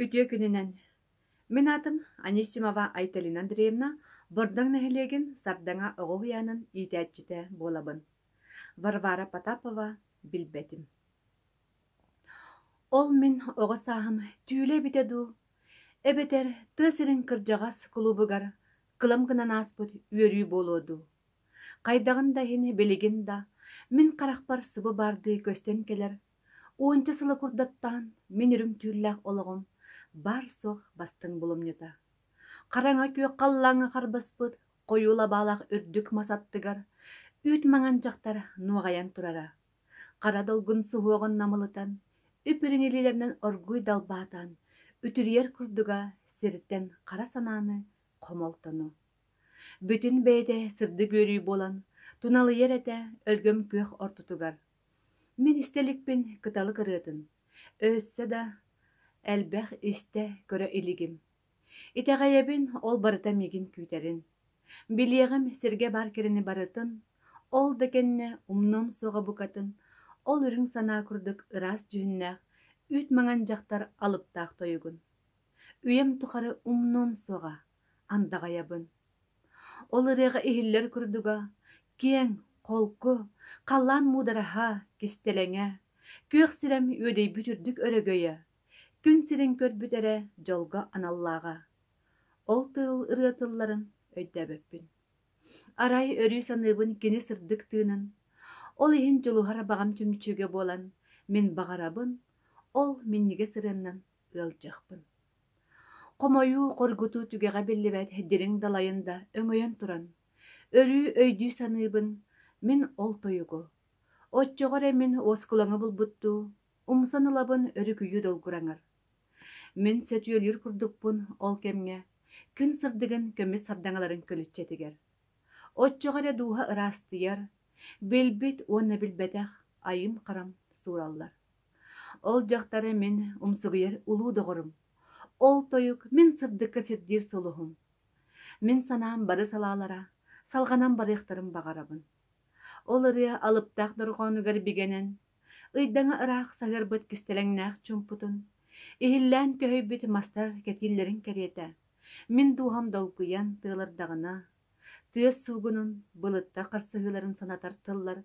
Үтүө күнүнэн! Мин аатым Анисимова Айталина Андреевна, Бордоҥ нэһилиэгин Сардаҥа оҕо уһуйаанын иитээччитэ буолабын. Варвара Потапова билбэтим. Ол мин оҕо сааһым түүлэ эбитэ дуу, эбэтэр тыа сирин кырдьаҕас кулуубугар кылам гынан ааспыт үөрүү буолуо дуу? Хайдаҕын да иһин билигин да мин харахпар субу баардыы көстөн кэлэр Уонча сыла курдаттаан мин үрүҥ түүллээх олоҕум баар-суох бастыҥ булумньута, хараҥа күөх халлааҥҥа харбаспыт хойуу лабаалаах үрдүк мас аттыгар үүт маҥан дьахтар нуоҕайан турара, хара долгун суһуоҕун намылытан, үп-үрүҥ илиилэринэн оргууй далбаатаан үтүрүйэр курдуга сиртэн хара санааны, хомолтону. Бүтүн бэйэтэ сырдык үөрүү буолан туналыйар этэ өлгөм күөх ортотугар Мин истэ иликпин кыталык ырыатын, өссө да элбэх истэ-көрө илигим. Итэҕэйэбин, ол барыта миигин күүтэрин. Билиэҕим сиргэ баар кэрэни барытын, ол да кэннэ умнуом суоҕа букатын, ол үрүҥ санаа курдук ыраас дьүһүннээх, үүт маҥан дьахтар алыптаах тойугун. Үйэм тухары умнуом суоҕа, андаҕайабын. Ол ырыаҕа иһиллэр курдуга киэҥ, холку, халлаан муудараһа, кистэлэҥэ, күөх сирэм үөдэйбит үрдүк өрөгөйө, күн сирин көрбүт эрэ дьолго аналлааҕа. Ол тыыл ырыа тылларын өйдөөбөппүн. Арай өрүү саныыбын кини сырдык тыынын. Ол иһин дьулуһар абаҕам чүмчүгэ буолан, мин баҕарабын ол минньигэс ырыаннан ыалдьыахпын. Хомойуу, хоргутуу түгэҕэ биллибэт дириҥ далайын да өҥөйөн туран, өрүү өйдүү-саныыбын, мин ол тойугу, оччоҕо эрэ мин уоскулаҥы булбуттуу, умсан ылабын өрүкүйүү долгураҥар. Мин сөтүөлүүр курдукпун ол кэмҥэ, күн сырдыгын көмүс сардаҥаларын көлүччэтигэр. Оччоҕо эрэ дууһа ыраастыйар, билбит уонна билбэтэх айым-харам суураллар. Ол дьахтары мин умсугуйар улуу доҕорум, ол тойук мин сырдыкка сирдиир сулуһум. Мин санаам бары салаалара, салҕанан барыахтарын баҕарабын. Ол ырыа алыптаах дорҕоонугар бигэнэн, ыйдаҥа ыраах саһыарбыт кистэлэҥнээх чумпутун, иһиллээн көһүйбүт мастар кэтииллэрин кэриэтэ, мин дууһам долгуйан тыалардаҕына, тыас суугунун, былытта харсыһыыларын санатар тыллар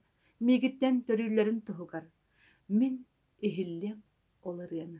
миигиттэн төрүүллэрин туһугар Мин иһиллиэм ол ырыаны